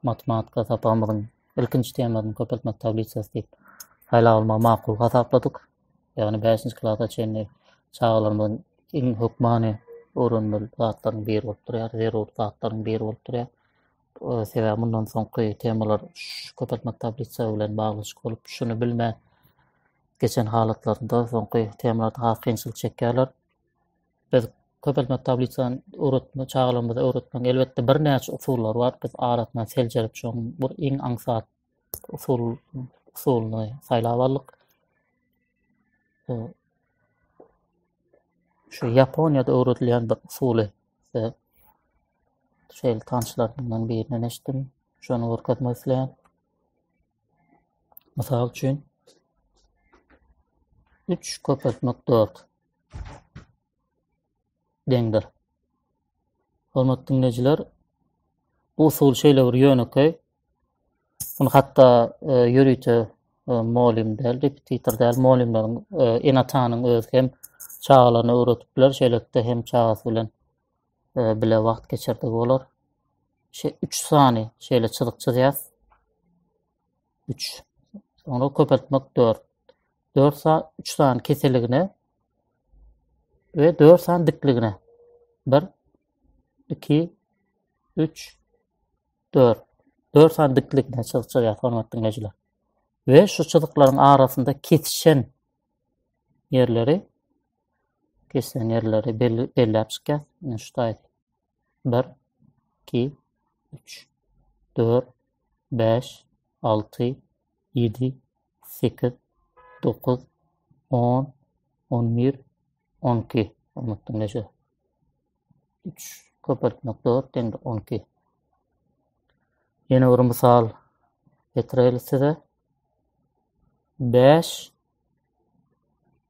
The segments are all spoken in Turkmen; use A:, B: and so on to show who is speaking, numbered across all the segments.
A: Matematika sapagymyzyň ilkinji temasyny köpeltmek tablisasy diýip saýlap almagy makul hasapladyk. Ýagny 5-nji klasa çenli çagalarymyzyň iň hökmany öwrenmeli zatlaryň biri bolup durýar, zerur zatlaryň biri bolup durýar. Sebäbi mundan soňky temalar şu köpeltmek tablisasy bilen baglaşykly bolup, şuny bilmän geçen halatlarynda soňky temalarda has kynçylyk çekýärler. biz köpeltme tablisany öwretme çagalarymyza öwretmegiň elbetde birnäçe usullary bar. Biz arasyna seljerip şoň bir iň aňsat usul usulyny saýlap aldyk. Şu Ýaponiýada öwredilýän bir usuly size şeýle tanşlarymdan birinden eşitdim. Şony görkezmek isleýän. Mysal üçin 3 köpeltmek 4. deňdir. Hormatly dinleýjiler, bu usul şeýle bir ýönekeý. Bunu hatda e, ýörite e, molim däl, repetitor däl, molimleriň e, enatanyň özi hem çagalaryna öwretip biler, şeýlelikde hem çagasy bilen e, bile wagt geçirdi bolar. Şe 3 sany şeýle çyzyk çyzýas. üç. Soňra köpeltmek dört. Dört sa üç sany keseligine we dört sany dikligine. Bir, iki, üç, dört. Dört sany dikligine çyzyk çyzýar hormat diňleýjiler. We şu çyzyklaryň arasynda kesişen ýerleri kesişen ýerleri belläp çykýar. Ine şu taýda. Bir, iki, üç, dört, bäş, alty, ýedi, sekiz, dokuz, on, on bir, on iki. Unutdum neşe. Üç, köpeltmek dört, deňde on iki. Ýene bir mysal getireli size. Bäş,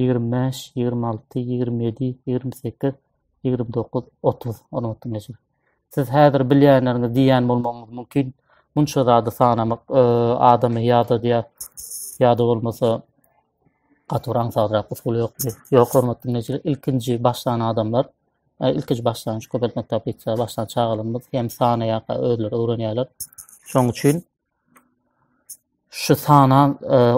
A: ýigrimi bäş, ýigrimi alty, ýigrimi ýedi, ýigrimi sekiz, ýigrimi dokuz, otuz ornatyň eşigi. Siz häzir bilýänleriňiz diýýän bolmagyňyz mümkin. Munça zady sanamak e, adamy ýadadýar. Ýada bolmasa gaty bir aňsatrak usul ýokdy. Ýok hormatly neşir, ilkinji başlan adamlar, e, ilkinji başlan şu köpeltmek tablitsa başlan çagalarymyz hem sanaýaka özleri öwrenýärler. Şoň üçin Şu sanan,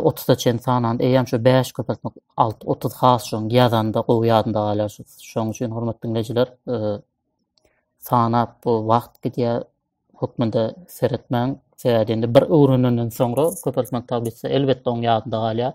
A: otuza çen sanan, eýýäm şu bäş köpeltmek alty, otuz has şoň ýazanda gowy ýadymda galýar şu. Şoň üçin hormatly diňleýjiler, sanap bu wagt gidýär hökmünde seretmäň. Sebäbi indi bir öwrenenden soňra köpeltmek tablisasy elbetde oň ýadynda galýar.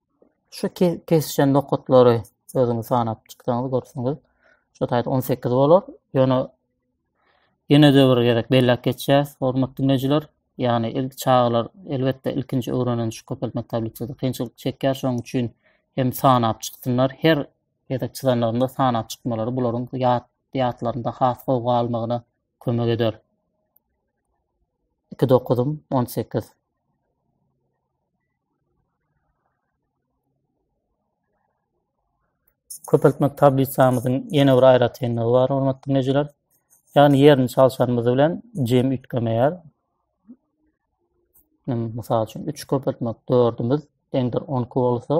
A: Şu kesişen nokatlary özüňiz sanap çyksaňyz görseňiz, şu taýda 18 bolar. Ýöne ýene-de bir gezek belläp geçýäs, hormatly dinleýjiler. Ýagny ilk çagalar elbetde ilkinji öwrenen şu köpeltmek tablisasy kynçylyk çekýär, şonuň üçin hem sanap çyksynlar. Her gezek çyzanlarynda sanap çykmalary bularyň ýat ýatlarynda has gowy galmagyna kömek eder. 2 dokuzym 18. köpeltmek tablisamyzyň ýene bir aýratynlygy bar, hormatly dinleýjiler. Ýagny ýerini çalşanymyz bilen jem üýtgemeýär. Mysal üçin 3 köpeltmek 4-ümiz deňdir 12 bolsa,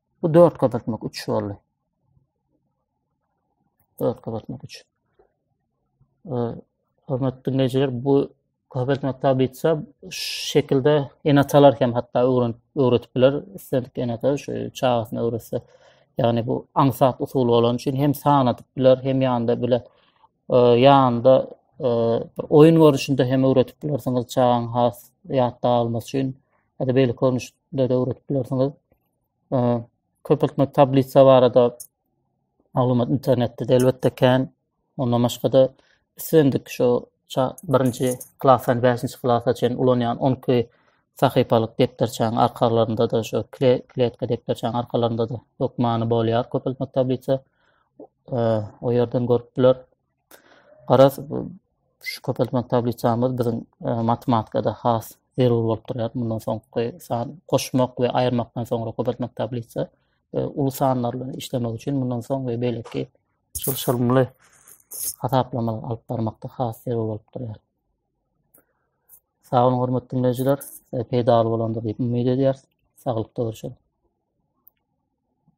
A: Bu 4 gazatmak 3 boldy. 4 gazatmak 3. Hormatly dinleýjiler, bu Gazet Maktab bitse, şekilde enatalar hem hatta öwren, öwretip biler. Üstelik enata şu çağasını öwretse. Yani bu aňsat usuly bolan üçin hem san atyp biler, hem yanında bile e, yanında e, bir oyun görüşünde hem öwretip bilersiniz çağan has ýatda almak üçin. Hadi beýle görnüşde de öwretip bilersiniz. köpeltmek tablisa barada maglumat internetde de elbetde kän. Ondan başga-da islendik şu birinji klasdan bäşinji klasa çen ulanýan on iki sahypalyk depderçäň arkalarynda da şu kletka depderçäň arkalarynda da hökmany bolýar köpeltmek tablisa. O ýerden görüp biler. Garaz, şu köpeltmek tablisamyz biziň matematikada has zerur bolup durýar. Mundan soňky san goşmak we aýyrmakdan soňra köpeltmek tablisa uly sanlar bilen işlemek üçin mundan soň we beýleki çylşyrymly hasaplama alyp barmakda has zerur bolup durýar. Sag boluň hormatly diňleýjiler, e, peýdaly bolandyr diýip umyt edýäris. Saglykda görüşeris.